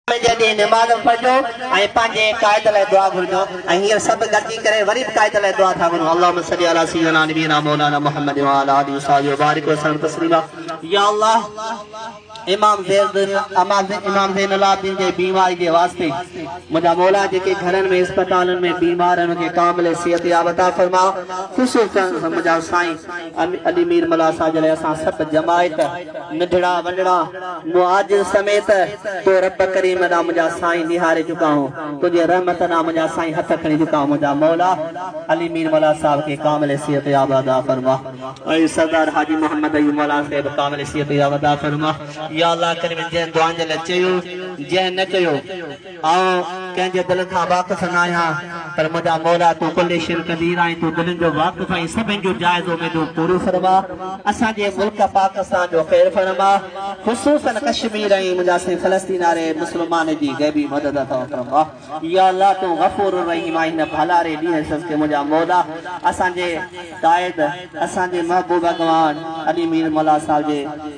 جلدي نماز پڙهجو ۽ پنهنجي قائد لاء دعا گهرجو ۽ هينئر سڀ گڏجي ڪري وري به قائد لاء دعا ٿا گهرون اللهم صلي علي سيدنا نبينا مولانا محمد وعلي آله وصحبه وبارڪ وسلم تسليما يا الله امام زين امام زين العابدين جي بيماري جي واسطي منهنجا مولا جيڪي گهرن ۾ اسپتالن ۾ بيمار ان کي ڪامل صحت ياب عطا فرما خصوصا منهنجا سائين علي مير ملاح صاحب جي لاء اسان سڀ جماعت ننڍڙا وڏڙا مهاجر سميت تو رب ڪريم ڏانهن منهنجا سائين نهاري چڪا هون تنهنجي رحمت ڏانهن منهنجا سائين هٿ کڻي چڪا هون منهنجا مولا علي مير ملاح صاحب کي ڪامل صحت ياب عطا فرما ۽ سردار حاجي محمد ايوب ملاح صاحب ڪامل صحت ياب عطا فرما يا الله ڪريم جنهن دعائن جي لاء چيو جنهن نه ڪيو. آئون ڪنهن جي دل کان واقف ناهيان، پر منهنجا مولا تون ڪل شين قدير آهين، تون دلين جو واقف آهين، سڀن جون جائز اميدون پوريون فرما، اسان جي ملڪ پاڪستان جو خير فرما، خصوصا ڪشمير ۽ منهنجا سائين فلسطين واري مسلمان جي غيبي مدد عطا فرما، يا الله تون غفور الرحيم آهين هن ڀلاري ڏينهن صدقي منهنجا مولا اسان جي قائد اسان جي محبوب اڳواڻ علي مير ملاح صاحب جي